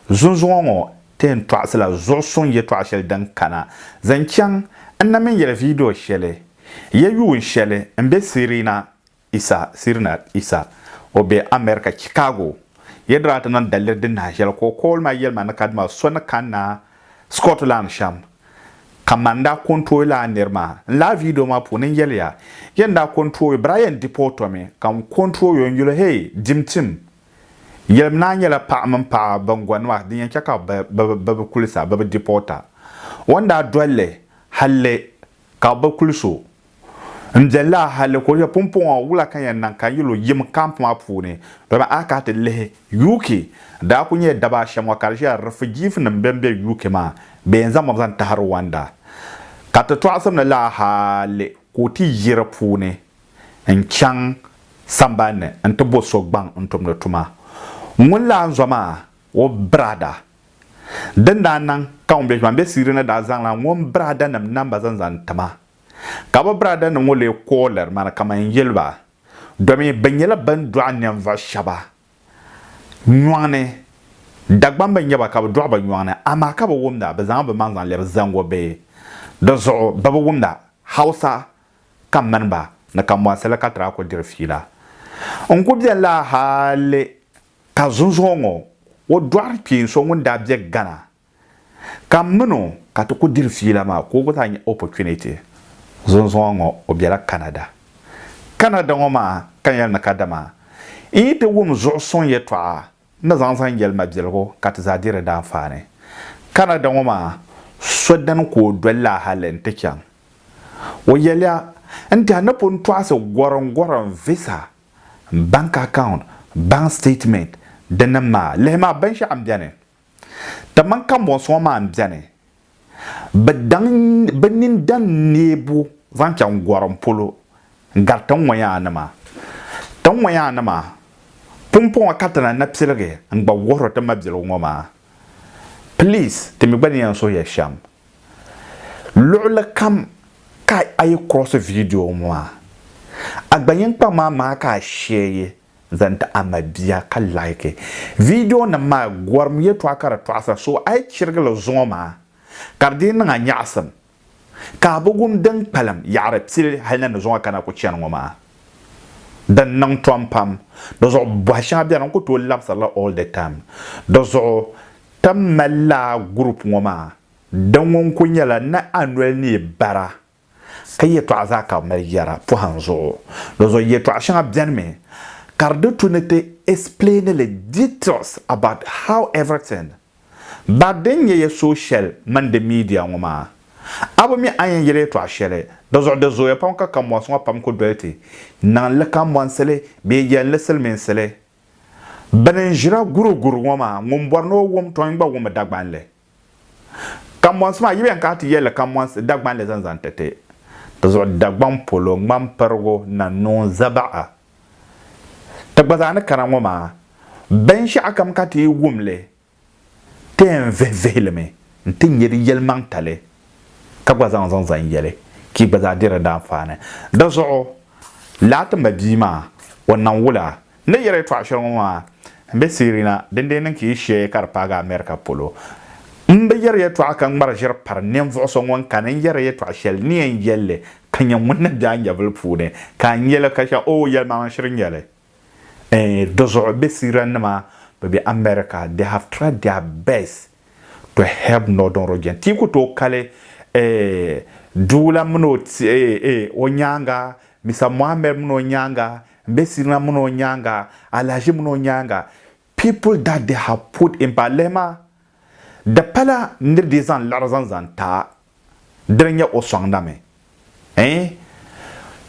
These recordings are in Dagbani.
Zunzuŋɔ ŋɔ ti yɛn tɔɣisila zuɣu suŋ yɛtɔɣa shɛli din kana. Zaŋ chaŋ n na mini yɛli viidiyo shɛli, Yɛ yuun shɛli m-be Sirina Issa Sirnat Issa, o be America Chicago, yɛltɔɣa ti niŋ daliri din nahi shɛli ka o kɔɔli maa yɛli ma ni ka dima so ni kanna Scotland shɛm ka man n daa ko n tooi laa niri maa. N laa video maa puuni n yɛliya yɛn daa ko n tooi Brian Depot Tommy ka n ko n tooi o n yuli hee dim tim yɛlim ni a nyɛla paɣa mini paɣa ban gɔni maa din yɛn chɛ ka bɛ bi kuli sa bɛ bi deporta o n daa doli li halli Ka bɛ kul so n bɛ laa hali ka o yɛli, Pumpɔŋɔ wula ka n yɛn niŋ ka n yi lo yim kamp maa puuni? Dama a kana ti lihi, UK daa kul nyɛla daba ashɛm ŋɔ ka di ʒiya rifijiifnim bɛn be UK maa bɛ yɛn zaŋ ma zaŋ tahi Ruwanda. Ka ti tɔɣisim ni laa hali ka o ti yi di puuni n-chaŋ sambani ni nti bo so gbaŋ n-tumdi tuma. Ŋun laa n-zɔ maa, o biraada Din daa niŋ ka ŋun be Ʒuan be Siiri ni daa zaŋla ŋun biraadanim namba zaŋ zaŋ ti ma. Ka bɛ biraadanim ŋɔ lee ku o liri ma ni kaman n-yɛli ba, domi bɛ nyɛla bɛn dɔɣi ninvuɣ shɛba nyɔŋ ni. Dagbam bi nya ba ka bɛ dɔɣi ba nyɔŋ ni, amaa ka bi wumda, bɛ zaŋ bɛ maŋ zaŋ lɛbi Zango bihi. Di zuɣu bɛ bi wumda Hausa ka m mini ba ni ka mɔɣisiri li ka ti daa ku diri fiila. N ku beni la hal Ka zunzuŋɔ ŋɔ o dɔɣiri kpeen so ŋun daa be Ghana ka min o ka ti ku diri fiila maa ka o gba zaa nya opportunity. Zunzuŋɔ ŋɔ o bela Canada. Canada ŋɔ maa ka n yɛli ni kadama n yi ti wum zuɣu suŋ yɛtɔɣa n ni zaŋ zaŋ yɛli ma biɛligu ka ti zaa deeri daanfaani. Canada ŋɔ maa so dini ka o doli la hali n ti chaŋ. O yɛliya n tɛha ni pun tɔɣisi gɔrim gɔrim visa bank account, bank statement dinim maa lihi maa binshɛɣu n beni timan kambɔnsuŋɔ maa n beni bɛ daŋ bɛ nini daŋ neebu zaŋ chaŋ gɔrim polo n gari tin ŋɔ yaa nima tin ŋɔ yaa nima pumpɔŋɔ ka ti na na piligi n gba wuhiri ti mabiligu ŋɔ maa please ti mi gba ni yɛn suhi ya shɛm Luɣili kam ka a yi kurɔsi viidiyo ŋɔ maa, a gba yin kpaŋ maa maa ka a sheei zaŋ ti a mabia ka like. Viidiyonim maa gɔrim yɛtɔɣa ka di tɔɣisira so a yi chirigi li zuŋɔ maa ka di dii niŋ a nyaɣisim ka a bi wum din kpalim yaɣiri pili hali na ni zuŋɔ ka na ku chani ŋɔ maa. Din niŋ tom pam. Di zuɣu bɔhi shɛŋa beni n ku tooi labisirila all the time. Di zuɣu Tam mali laa group ŋɔ maa di ŋɔ n-kuli nyɛla ni a noli ni yi bara ka yɛtɔɣa zaa ka bɛ mali yɛra pɔhim zuɣu. Dozɔ yɛtɔɣa shɛŋa beni mi ka di di tu ni ti explaini li details about how everything but din nyɛ ya social mini di media ŋɔ maa a bi mi a yɛn yɛli yɛtɔɣa shɛli di zuɣu di zooya pam ka kambɔnsi ŋɔ pam kuli doli ti niŋ li kambɔnsili bee yɛli li silimiinsili. Bɛ ni ʒira guruguru ŋɔ maa, ŋun bɔri ni o wum tɔin gba wumi Dagbanli. Kammɔnsi maa, yi bi yɛn kana ti yɛli li kammɔnsi, Dagbanli zani zaŋ ti ti. Di zuɣu Dagbaŋ polo, Ŋmampirigu, Nannuŋ, Zabaɣa ti gba zaa ni kana ŋɔ maa, binshɛɣukam ka ti yi wum li, ti yɛn vihi vihi li mi nti nyɛ di yɛlimaŋtali ka gba zaŋ zaŋ zan yɛli ka yi gba zaa diri di anfaani. Di zuɣu laa ti ma bia maa o niŋ wula? N ni yɛli yɛtɔɣa shɛli ŋɔ maa m be Sirina dindee niŋ ka yi shee ka di paagi America polo. M bi yɛri yɛtɔɣa ka ŋmari ʒiri pari ninvuɣ so ŋun kani n yɛri yɛtɔɣa shɛli ni yɛn yɛl li ka nyɛ ŋun ni be a nyɛvili puuni ka a nya li ka shɛm, oo yɛlimaŋli shiri n-nyɛ li. Eeh dizuɣu bɛ Syrian nima bɛ be America they have tried their best to help northern region ti yi ku tooi kali eeh doo la mini o ti eeh eeh o nyaaŋa Mister Mohammed mini o nyaaŋa m be Syrian mini o nyaaŋa Alhaji mini o nyaaŋa people that they have put in pa lihi ma di pala ni di zaŋ liɣiri zaŋ zaŋ ti a dini nyɛ o sɔŋdami ɛɛn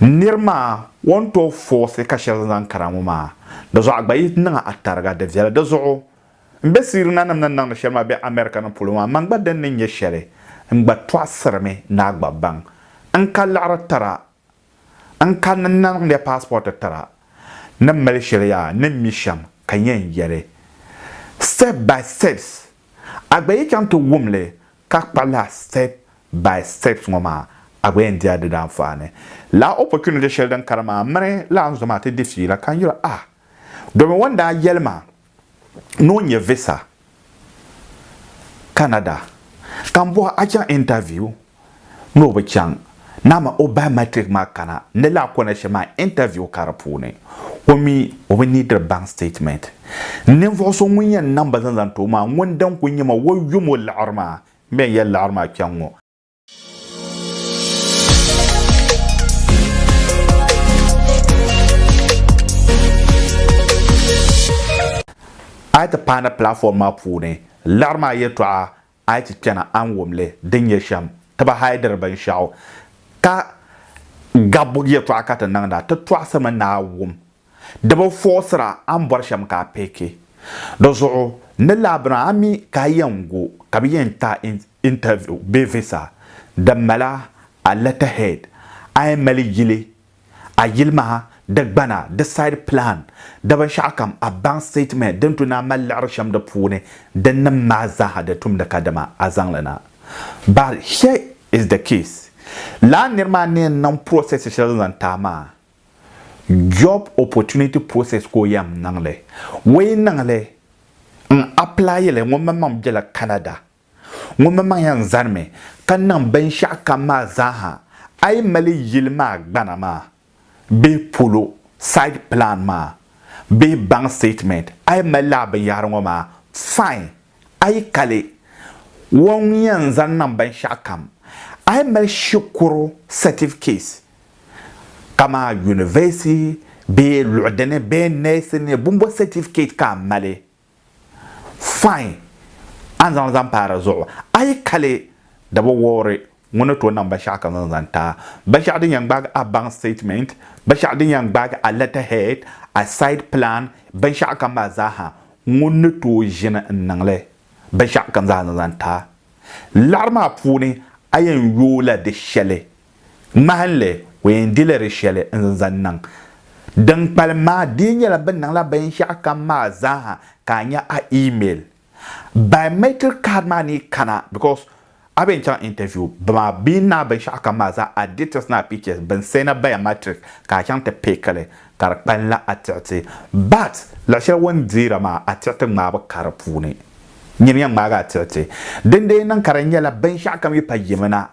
niri maa o ni tooi foosi ka shɛba zaŋ kana ŋɔ maa di zuɣu a gba yi niŋ a tariga di viɛli di zuɣu n be siiri nanim ni niŋdi shɛli maa be America ni polo maa man gba din ni nyɛ shɛli n gba tɔɣisirimi ni a gba baŋ n ka liɣiri tira n ka ni niŋdi passport tira ni mali shɛli yaa ni mi shɛm ka yɛn yɛli step by steps a gba yi chaŋ ti wumli ka kpa laa step by steps ŋɔ maa, a gba yɛn di a di daa anfaani. Laa opportunity shɛli din kani maa mini laa n zo maa ti di fiila ka n yuli ah domin ŋɔ n daa yɛli ma ni o nyɛ visa Canada ka n bɔhi a chaŋ interview ni o bi chaŋ. Naa ma o biometric maa kana ni lahi kona shɛm maa interview ka di puuni o mi o bi neediri bank statement. Ninvuɣu so ŋun yɛn niŋ ba zaŋ zaŋ ti o maa ŋun din kuli nyɛ ma o yom o liɣiri maa m bɛn yɛli liɣiri maa kpɛŋ ŋɔ. A yi ti paai ni platform maa puuni liɣiri maa yɛtɔɣa A yi ti chana a ni wum li din nyɛ shɛm tiba hal diri binshɛɣu ka gabbu yɛtɔɣa ka ti niŋda, ti tɔɣisirimi ni a wum di bi fɔɣisira a ni bɔri shɛm ka a pihiki. Di zuɣu ni laabina a mi ka a yɛn gu ka bɛ yɛn ti a interview bee visa din mali a letterhead a yɛn mali yili a yilimaha, di gbana, di side plan, di binshɛɣukam, a bank statement din tu naan mali liɣiri shɛm di puuni, di nim maa zaaha di tumdi ka dama a zaŋ li na. But here is the case, lala nir maa ni yɛn niŋ process shɛli din zaŋ ti a maa, job opportunity process ka o yɛn niŋ li. O yi niŋ li n apply li, ŋun mini maŋ bela Canada. Ŋunmaŋmaŋ yɛn zanimi ka niŋ binshɛɣu kam maa zaaha a yi mali yili maa gbana maa bee polo, site plan, maa bee bank statement a yi mali lala binyɛhiri ŋɔ maa fine a yi ka li wan yɛn zani niŋ binshɛɣu kam. A yi mali shikuru certificate kamani university bee luɣi dini bee nɛsi ni bumbo certificate ka a mali Fine! A ni zaŋ li zaŋ paai di zuɣu. A yi kali daba wɔbiri ŋɔ ni tooi niŋ binshɛɣu ka zaŋ zaŋ taai, binshɛɣu din yɛn gbaagi a bank statement, binshɛɣu din yɛn gbaagi a letter head, a site plan, binshɛɣu kam maa zaaha, ŋuni ni tooi ʒini n-niŋ li binshɛɣu kam zaa zaŋ zaŋ taai. Laɣiri maa puuni a yɛn yooi la di shɛli Ŋmahinli, o yɛn dila di shɛli n-zaŋ niŋ. Din kpalim maa dii nyɛla bɛ niŋla binshɛɣukam maa zaaha ka a nya a email. Biometric card maa ni kana because a bi yɛn chaŋ interview dama bɛ ni niŋ a binshɛɣukam maa zaa, a details ni a pictures, bɛ ni sɛna biometric ka a chaŋ ti pick li ka di kpalinla a tiɣiti. But luɣ shɛli o ni deera maa, a tiɣiti ŋmaa bi ka di puuni. Nyin yɛn ŋmaagi a tiɣiti. Din dii niŋ ka di nyɛla binshɛɣukam yi pa yimina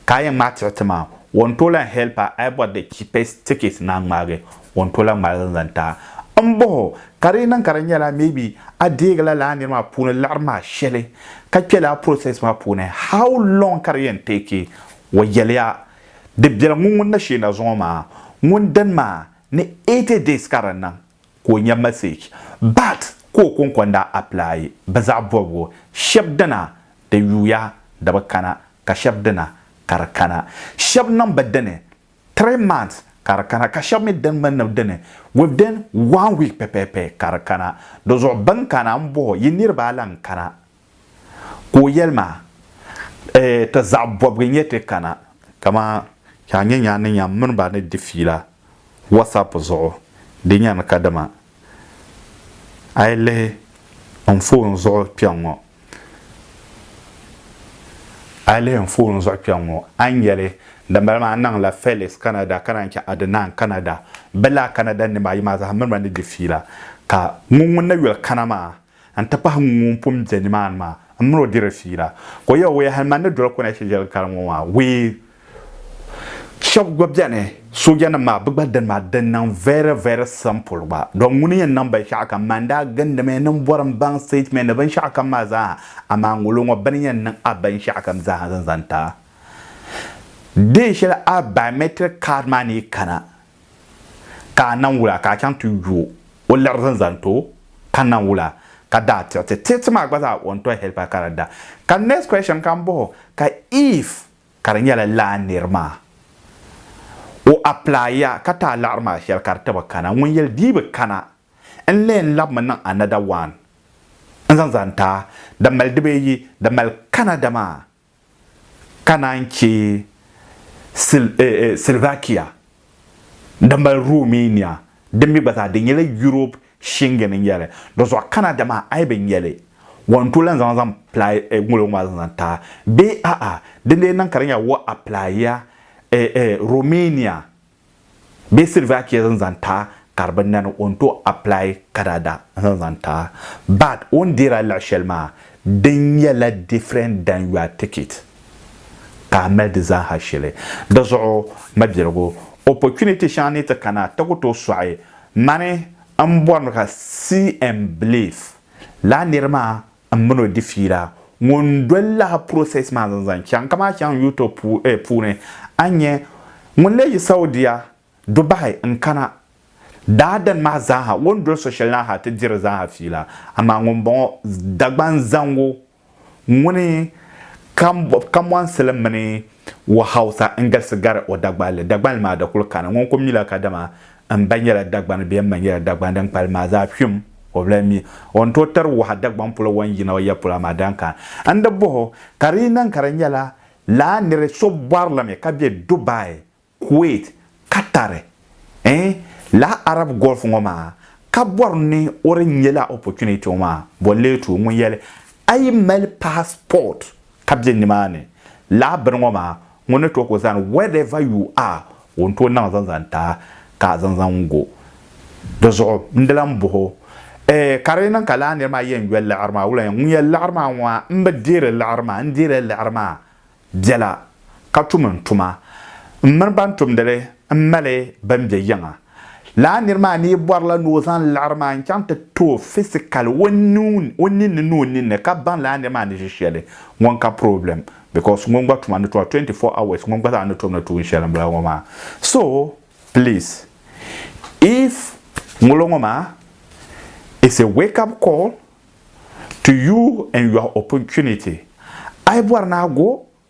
ka a yɛn ŋmaai tiri ti maa, o ni tooi lahi help a a yi bɔri the cheapest ticket ni a ŋmaagi o ni tooi lahi ŋmaai li zaŋ ti a. M bɔh o, ka di yi niŋ ka di nyɛla maybe a deegila lala nir maa puuni liɣiri maa shɛli ka kpe lala process maa puuni, how long ka di yɛn take? O yɛliya, Di bela ŋun ŋun na sheei na zuŋɔ maa, ŋun dini maa ni 80 days ka di niŋ. ka o nya message but ka o konko n-daa apply bɛ zaɣ bɔbigu shɛb dina di yuuya di bi kana ka shɛb dina ka di kana. Shɛb niŋ bɛ dini three months ka di kana ka shɛb mi din mi niŋ dini within one week pɛpɛɛpɛ ka di kana. Di zuɣu bɛ ni kana m-bɔh o yi niriba a lan kana Ka o yɛli ma, Ee, ti zaɣ bɔbigu n-nyɛ ti kana, kaman ka a nya nya ni nya m mini ba ni di fiila WhatsApp zuɣu, di nya ni kadama a yi lihi n foon zuɣu kpɛŋŋɔ, a yi lihi n foon zuɣu kpɛŋŋɔ, a ni nya li. Dimbala maa, n naŋ la Felix Canada, ka naan chɛ Adnan Canada. Bɛ laa Canada nima ayi maa zaa m mini ba ni di fiila. Ka ŋun ŋun na yuli kana maa, n-ti pahi ŋun pun be nimaani maa, m mini o diri fiila. Ka o yɛl o, Yahili man ni doli Konɛshi jɛli kara ŋɔ maa wee. Shɛb gba beni, soojanim maa, bɛ gba dini maa di niŋ very, very simple gba. Dɔn ŋuni n-yɛn niŋ binshɛɣu kam? Man daa gindimi ni m bɔri m baŋ statement ni binshɛɣu kam maa zaa ha, amaa ŋolo ŋɔ bɛ ni yɛn niŋ a binshɛɣu kam zaa ha zaŋ zaŋ ti a. Deei shɛli a biometric card maa ni yi kana, Ka a nam wula ka a chaŋ ti yo o liɣiri zani zaŋ ti o? Ka nam wula ka daa tiɣi ti tiɣi ti maa gba zaa o ni tɔhi helipa ka di da. Ka next question ka m bɔh o, ka if ka di nyɛla lala nir maa o apply ya ka ti a liɣiri maa shɛli ka di ti bi kana, ŋun yɛli di yi bi kana n leen labimi niŋ another one n zaŋ zani ti a, di mali di bee yi di mali kana dama? ka naan chɛ Slovakia din mali Romania din mi gba zaa di nyɛla Yurop Shingen n-nyɛ li. Dɔzuɣu kana dama a yi bi nya li wa n tooi lan zaŋ zaŋ pilai ŋolo ŋɔ maa zaŋ zaŋ taai bee a'a? Dindee niŋ ka di nya wa apilaia Romania Bee silver chɛ zan zaŋ ta ka di bi nani o ni tooi apply kadada n zaŋ zaŋ ta but o ni deeri a luɣ'shɛli maa di nyɛla different than your ticket ka a mali di zaa ha shili di zuɣu mabiligu opportunity shɛŋa ni ti kana ti ku tooi sɔɣi mani m bɔrimi ka see and believe laa niri maa M min o di fiila ŋun doli lahi process maa zaŋ zaŋ chaŋ kamaa chaŋ YouTube puuni a ni nya ŋun lee yi Saudia du bahi n kana daa dani maa zaaha o ni doli so shɛli naa ha ti diri zaaha fiila amaa ŋun bɔŋɔ Dagban zaŋgu ŋuni ka mɔnsili mini o Hausa n galisi gari o Dagbanli Dagbanli maa da kuli kana ŋun kuli mila kadama M ba nyɛla Dagbani bee m ma nyɛla Dagbani din kpalim maa zaa kpim o bi lahi mi o ni tooi tiri waha Dagbaŋ polo wan yina o yapɔla maa dan kana n-di bɔh o ka di yi niŋ ka di nyɛla lala niri so bɔri la mi ka be Dubai, Kuwait, Qatar eeh lala Arab Gulf ŋɔ maa ka bɔri ni o di nyɛla opportunity ŋɔ maa bɔ leetu ŋun yɛli a yi mali passport ka be nimaani laa bini ŋɔ maa, ŋun ni tooi ka o zani wherever you are, o ni tooi niŋ zaŋ zaŋ ti a ka a zaŋ zaŋ go. Di zuɣu n di lan bohi o, Ee, ka di yi niŋ ka laa nir maa yɛn yoli liɣiri maa, wula ŋun yɛli liɣiri maa ŋɔ maa, m bi deeri liɣiri maa, n deerila liɣiri maa biɛla ka tum n tuma. M mini ban tumdi li m mali bɛn be yiŋa. Lala niri maa ni yi bɔrila ni o zaŋ liɣiri maa n-chaŋ ti ti o physically o ninni ni o ninni ka baŋ lala niri maa ni ʒi shɛli ŋun ka problem because ŋun gba tuma ni tuma 24 hours ŋun gba zaa ni tom ni tuun shɛli m-bala ŋɔ maa so please if ŋolo ŋɔ maa is a wake up call to you and your opportunity a yi bɔri ni a go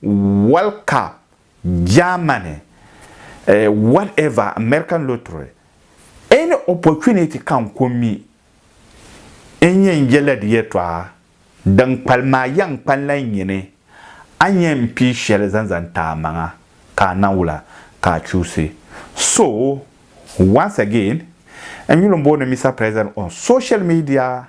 World Cup, Germany, eh, whatever, American Lottery, any opportunity ka n ko mi n nyɛ n yɛla di yɛtɔɣa din kpalim maa yɛn kpa n la n nyini, a nyɛ n pii shɛli zaŋ zaŋ ti amaŋa ka a na wula ka a chuusi. So, once again, n yuli n booni Mister President on social media